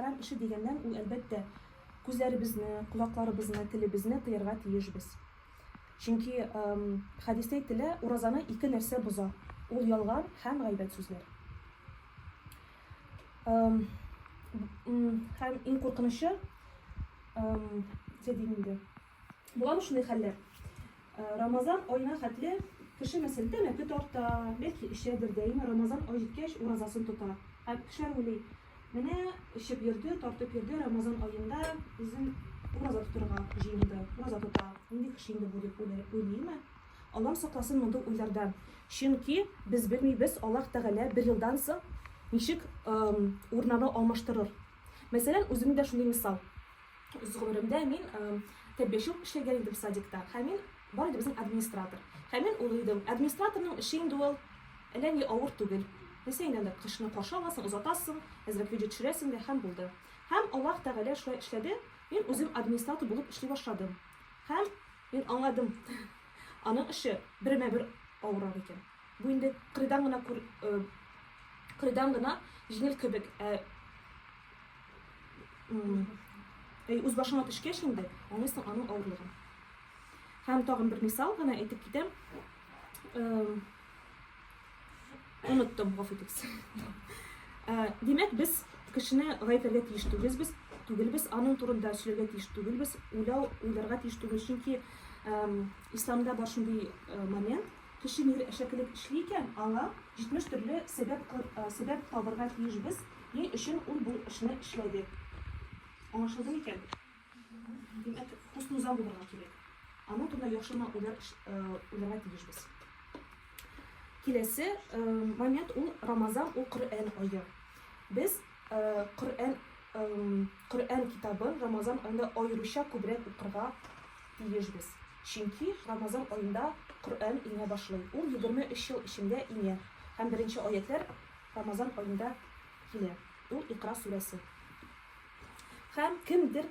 Хәрам эше дигәннән, ул, әлбәттә, күзләребезне, колакларыбызны, телебезне тыярга тиешбез. Чөнки хәдистә әйтелә, уразаны ике нәрсә боза. Ул ялган һәм гайбәт сүзләр. Һәм иң куркынычы, ничә дим инде, Буламы шундый хәлләр? Э, Рамазан аена хәтле кеше мәсәлдәме көт арта, бәлки эчәдер дә, әмма Рамазан ай җиткәч уразасын тота. Һәм кешеләр уйлый, менә эчеп йөрде, тартып йөрде, Рамазан аенда үзен ураза тотырга җыенды, ураза тота. Нинди кеше инде бу дип уйлыймы? Аллам сакласын мондый уйлардан. Чөнки без белмибез, Аллаһ Тәгалә бер елдан соң ничек урнаны алмаштырыр. Мәсәлән, үземдә шундый мисал. үз гомеремдә мин тәрбияче үк эшләгән идем садикта һәм мин бар иде безнең администратор һәм мин ул идем администраторның эше инде ул әллә ни авыр түгел нәрсә инде анда кешене каршы аласың озатасың әзрәк видео төшерәсең дә һәм булды һәм аллаһ тәгалә шулай эшләде мин үзем администратор булып эшли башладым һәм мин аңладым аның эше бермә бер авыррак икән бу инде кырыйдан гына кырыйдан гына җиңел кебек ә Әй, үз башыңа төшкәч инде, аңлыйсың аның авырлыгын. Һәм тагын бер мисал гына әйтеп китәм. Оныттым, гафу итегез. Димәк, без кешене гаепләргә тиеш түгелбез, без түгелбез, аның турында сөйләргә тиеш түгелбез, уйлау, уйларга тиеш түгел, чөнки исламда бар шундый момент, Кеше нигә әшәкелек эшли икән, аңа 70 төрле сәбәп сәбәп табырга тиешбез, ни өчен ул бу эшне эшләде. Аңлашылды микән? Димәк, хуснузан булырга кирәк. Аның турында яхшы гына уйлар уйларга тиешбез. Киләсе момент ул Рамазан, ул Коръән ае. Без Коръән Коръән китабын Рамазан аенда аеруча күбрәк укырга тиешбез. Чөнки Рамазан аенда Коръән иңә башлый, ул егерме өч ел эчендә иңә һәм беренче аятьләр Рамазан аенда килә, ул Икъра сүрәсе. Һәм кемдер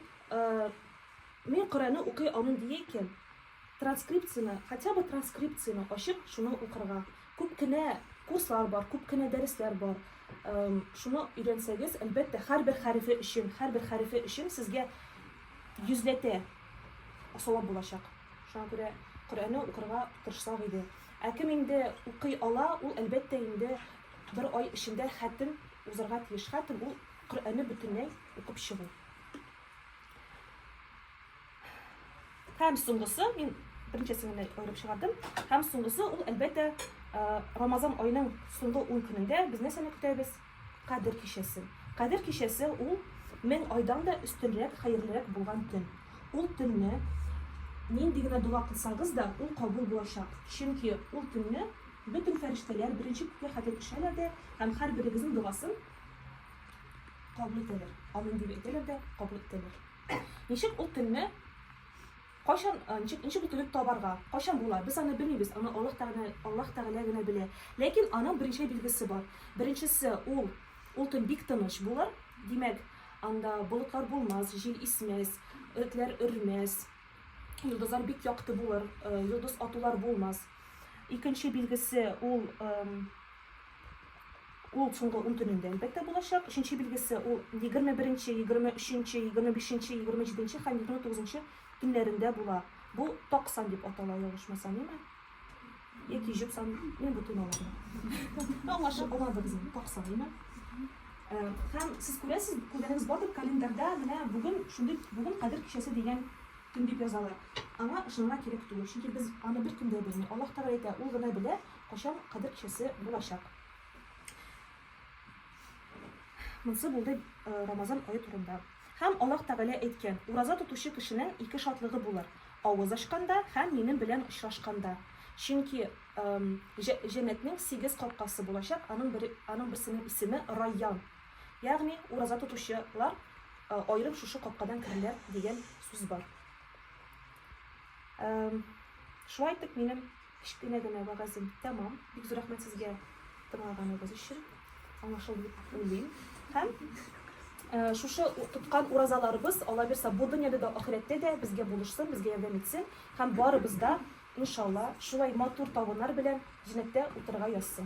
Мин Коръәнне укый алмыйм дия икән, транскрипцияне, хотя бы транскрипцияне ачып, шуны укырга. Күп кенә курслар бар, күп кенә дәресләр бар. Шуны өйрәнсәгез, әлбәттә, һәрбер хәрефе өчен, һәрбер хәрефе өчен сезгә йөзләтә савап булачак. Шуңа күрә Коръәнне укырга тырышсак иде. Ә кем инде укый ала, ул, әлбәттә, инде бер ай эчендә хәтем узарга тиеш. Хәтем ул Коръәнне бөтенләй укып чыгу. Һәм соңгысы, мин беренчесен генә аерып чыгардым. Һәм соңгысы ул, әлбәттә, Рамазан айының соңгы 10 көнендә без нәрсәне көтәбез? Кадер кичәсе. Кадер кичәсе ул мең айдан да өстенрәк, хәерлерәк булган көн. Ул төнне нинди генә дога кылсагыз да, ул кабул булачак. Чөнки ул төнне бөтен фәрештәләр беренче күккә хәтле төшәләр дә һәм һәрберегезнең догасын кабул итәләр. Амин дип әйтәләр дә кабул итәләр. Ничек ул төнне Кайчан, ничек, ничек бөтереп табарга? Кайчан була? Без аны белмибез, аны Аллаһ Тәгалә, Аллаһ Тәгалә генә белә. Ләкин аның беренче билгесе бар. Беренчесе ул, ул төн бик тыныч булыр. Димәк, анда болытлар булмас, җил исмәс, этләр өрмәс, йолдызлар бик якты булыр, йолдыз атулар булмас. Икенче билгесе ул Ул соңгы ун төнендә, әлбәттә, булачак. Өченче билгесе ул егерме беренче, егерме өченче, егерме бишенче, егерме җиденче һәм егерме тугызынчы төннәрендә була. Бу так сан дип атала, ялгышмасам, яме? Яки җеп сан, мин бу төн алам. Аңлашып аладыгыз инде, так сан, яме? Э, һәм сез күрәсез, күргәнегез бардыр, календарьда менә бүген шундый бүген кадер кичәсе дигән төн дип язалар. Аңа ышанырга кирәк түгел, чөнки без аны бер көндә белмибез. Аллаһ Тәгалә әйтә, ул гына белә, Качан кадыр кичәсе булачак? Монсы булды Рамазан ае турында. Һәм Аллаһ Тәгалә әйткән, ураза тотучы кешенең ике шатлыгы булыр, авыз ачканда һәм минем белән очрашканда. Чөнки җәннәтнең сигез капкасы булачак, аның бер аның берсенең исеме Райян. Ягъни ураза тотучылар аерым шушы капкадан керәләр дигән сүз бар. Шулай итеп минем Кечкенә генә вәгазем тәмам. Бик зур рәхмәт сезгә тыңлаганыгыз өчен. Аңлашылды дип уйлыйм. Һәм Э, шушы тоткан уразаларыбыз алла бирса бу дөньяда да ахирәттә дә безгә булышсын безгә ярдәм итсен һәм барыбыз да иншалла шулай матур табыннар белән җәннәттә утырырга язсын